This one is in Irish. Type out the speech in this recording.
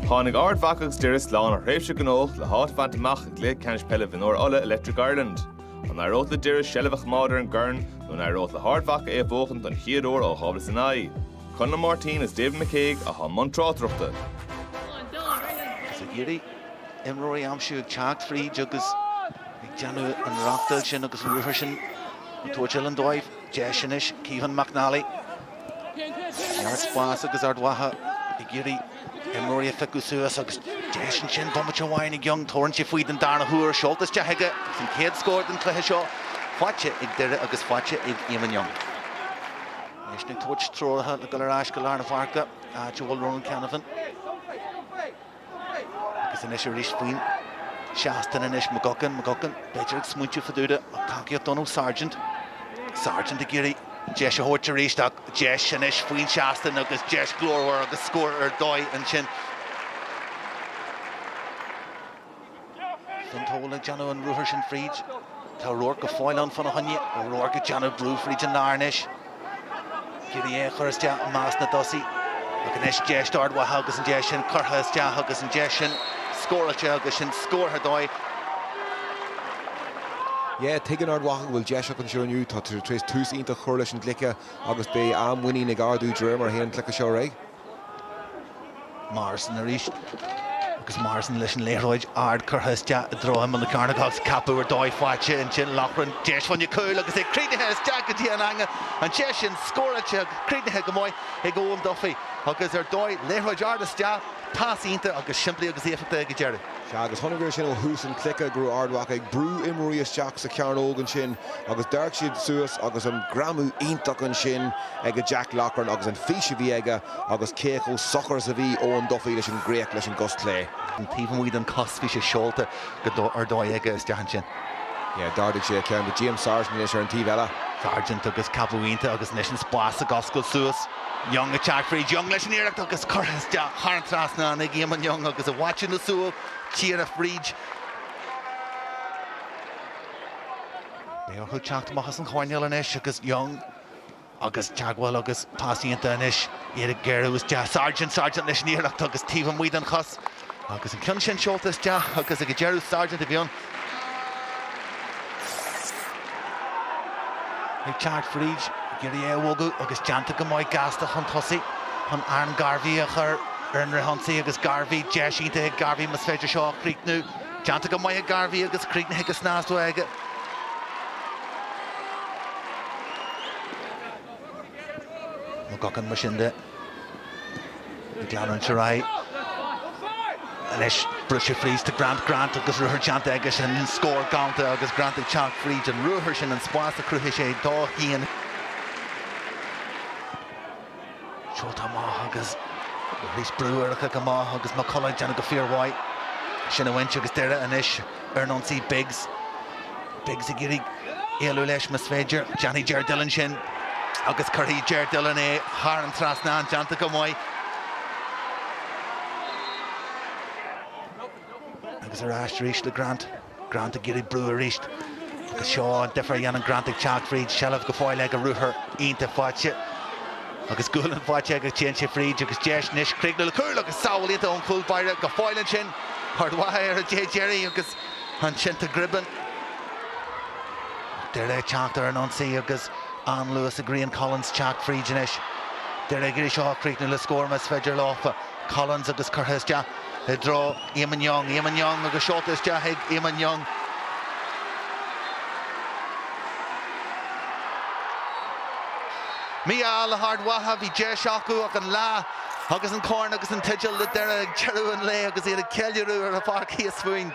Tháinig Ard Mhacha agus Doire slán ó thréimhse gnóthach le háit a bhaint amach i gcluiche ceannais peile mhionúir Uladh, Electric Ireland. An éireodh le Doire seilbh a choimeád ar an gcorn nó an éireodh le hArd Mhacha é a bhuachan don chéad uair ó 2009? Conall Martin agus David McCague atá i mbun tráchtaireachta. Is ag iarraidh imreoirí a aimsiú ag teacht fríd agus ag déanamh an rachtail sin agus an ruathar sin ag tabhairt uilleann dóibh. Deis anois, Caoimhin McNally. ag iarraidh spás agus Ard Mhacha ag iarraidh imreoirí a phiocadh suas agus deis ansin bomaite amháin ag Young. Tabharann sé faoi den darna huair, seolta isteach aige agus an chéad scór den chluiche seo faighte ag Doire agus faighte ag Éamonn Young. Anois ag tabhairt treoracha le dul ar ais go lár na páirce, áit a bhfuil Ronan Canavan. Agus anois arís faoin seastán anois, McGuckin, McGuckin b'fhéidir ag smaointiú fá dtaobh de ach tacaíocht dó ó Sargent. Sargent ag iarraidh an deis a thabhairt arís ach deis anois faoin seastán agus deis ghlórmhar agus scór ar dóigh ansin. Fonn air ag déanamh an ruathar sin fríd. Tá Ruairc go fóill ann fá na choinne. Ó Ruairc ag déanamh brú fríd an lár anois. Ag iarraidh é a chur isteach i measc na dtosaithe. Ach anois deis d'Ard Mhacha agus an deis sin curtha isteach agus an deis sin scóráilte agus scór ar dóigh. Yeah, tuigeann Ard Mhacha go bhfuil deis acu anseo inniu. Tá siad tar éis tús iontach a chur leis an gcluiche agus beidh an-mhuinín ag ardú de réir mar a théann an cluiche seo ar aghaidh. Morrison arís. Agus Morrison leis an liathróid ard curtha isteach i dtreo imeall na cearnóige agus ceapadh ar dóigh faighte ansin. Loughran, deis mhaith cúil agus é críochnaithe isteach go dtí an eange. An deis sin scóráilte agus críochnaithe go maith ag Eoin Duffy. Agus ar dóigh, liathróid ard isteach, pas iontach agus simplí agus éifeachtach ag an deireadh. Sea, agus chonaic tú sin ó thús an chluiche go raibh Ard Mhacha ag brú imreoirí isteach sa chearnóg ansin agus d'amharc siad suas agus an greamú iontach ansin ag Jack Loughran agus an fís a bhí aige agus cé chomh socair is a bhí Eoin Duffy leis an gcríoch leis an gcos chlé. An taobh amuigh den chos, bhí sé seolta go ar dóigh aige isteach ansin. Sea, d'ardaigh sé a cheann but James Sargent anois ar an taobh eile. Sargent agus ceapadh iontach agus anois an spás ag oscailt suas. Young ag teacht fríd Young leis an iarracht agus curtha isteach thar an trasnán ag Éamonn Young agus i bhfaiteadh na súl ag teacht fríd. Beidh orthu teacht amach as an choirnéal anois agus Young agus teagmháil agus pas iontach anois, iad ag gearradh isteach. Sargent, Sargent leis an iarracht agus taobh amuigh den chos. Agus an ceann sin seolta isteach agus ag an deireadh Sargent a bhí ann. Ag teacht fríd, ag iarraidh é a bhogadh agus déanta go maith gasta chun tosaigh chun Aaron Garvey a chur ar an rith ionsaí agus Garvey, deis iontach ag Garvey más féidir seo a chríochnú. Déanta go maith ag Garvey agus críochnaithe go snasta aige. McGuckin mar sin de. Ag leanúint ar aghaidh anois, briseadh fríd do Grant, Grant agus ruathar déanta aigesean, scór galánta agus Grant ag teacht fríd an ruathar sin, an spás a chruthaigh sé dó féin. Seolta amach agus arís brú ar an chic amach agus McCullough ag déanamh go fíormhaith sin a bhaint agus Doire anois. ar an ionsaí, Biggs, Biggs ag iarraidh éalú leis mas féidir, déanfaidh Ger Dillon sin agus cuirfidh Ger Dillon é thar an trasnán, déanta go maith. Agus ar ais arís le Grant, Grant ag iarraidh brú arís agus seo an difear a dhéanann Grant ag teacht fríd seilbh go fóill aige, ruathar iontach faighte. agus gualainn faighte aige, téann sé fríd agus deis anois críochnú le cúl agus sábháil iontach ón chúl báire go fóill ansin, Ard Mhacha ar an dé deiridh agus ansin tá Gribben Doire ag teacht ar an ionsaí agus an-luas ag Rían Collins teacht fríd anois. Doire ag iarraidh seo a chríochnú le scór más féidir leofa. Collins agus curtha isteach i dtreo. Eamon Young, Eamon Young agus seolta isteach ag Eamon Young. Mí-ádh le hArd Mhacha, bhí deis acu ach an lá agus an corn agus an teideal le Doire ag deireadh an lae agus iad ag ceiliúradh ar an pháirc thíos fúinn.